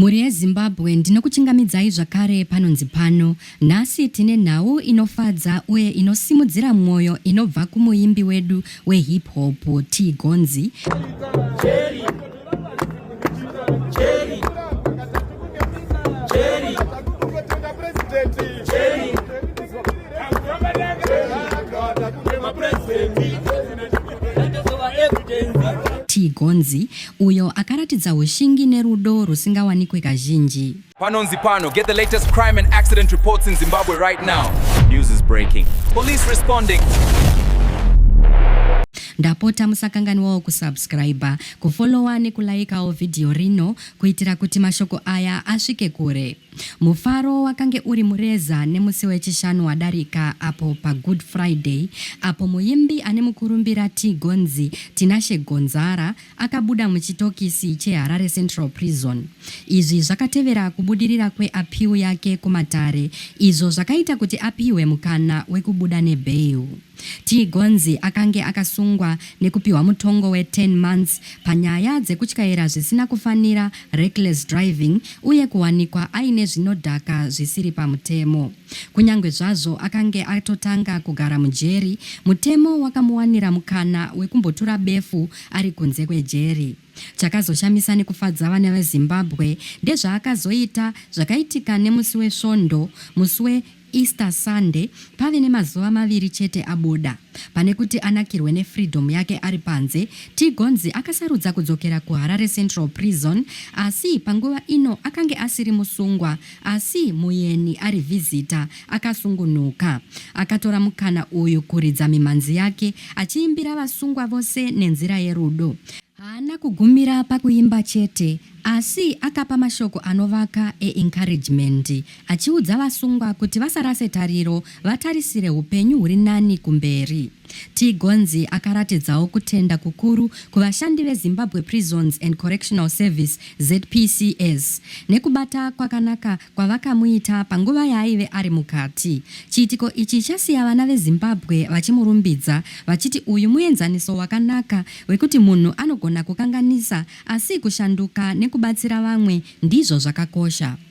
Mhuri yeZimbabwe ndinokuchingamidzai zvakare panonzi pano. Nhasi tine nhau inofadza uye inosimudzira mwoyo inobva kumuimbi wedu wehip hop T Gonzi. T Gonzi Uyo akaratidza hushingi nerudo rwusingawanikwe kazhinji. Panonzi pano, get the latest crime and accident reports in Zimbabwe right now. News is breaking. Police responding. ndapota musakanganwawo kusubscriber kufollowa nekulaikawo vhidhiyo rino kuitira kuti mashoko aya asvike kure Mufaro wakange uri mureza nemusi weChishanu wadarika apo paGood Friday apo muimbi ane mukurumbira Tigonzi, Tinashe Gonzara, akabuda muchitokisi cheHarare Central Prison. Izvi zvakatevera kubudirira kweapiwu yake kumatare izvo zvakaita kuti apihwe mukana wekubuda nebail. Chigonzi akange akasungwa nekupiwa mutongo we 10 months panyaya dzekutyaira zvisina kufanira, reckless driving, uye kuwanikwa aine zvinodhaka zvisiri pamutemo. Kunyangwe zvazvo akange atotanga kugara mujeri, mutemo wakamuwanira mukana wekumbotura befu ari kunze kwejeri. Chakazoshamisa nekufadza vana veZimbabwe ndezvaakazoita zvakaitika nemusi weSvondo, musi we Easter Sunday pave nemazuva maviri chete abuda. Pane kuti anakirwe nefreedom yake ari panze, Tigonzi akasarudza kudzokera kuHarare Central Prison asi panguva ino akange asiri musungwa asi muyeni ari visitor akasungunuka. Akatora mukana uyu kuridza mimhanzi yake achiimbira vasungwa vose nenzira yerudo. Haana kugumira pakuimba chete Asi akapa mashoko anovaka eencouragement achiudza vasungwa kuti vasarase tariro vatarisire hupenyu huri nani kumberi. Tigonzi akaratidzawo kutenda kukuru kuvashandi veZimbabwe Prisons and Correctional Service, ZPCS, nekubata kwakanaka kwavakamuita panguva yaaive ari mukati. Chiitiko ichi chasiya vana veZimbabwe vachimurumbidza vachiti uyu muenzaniso wakanaka wekuti munhu anogona kukanganisa Asi kushanduka nekubatsira vamwe ndizvo zvakakosha.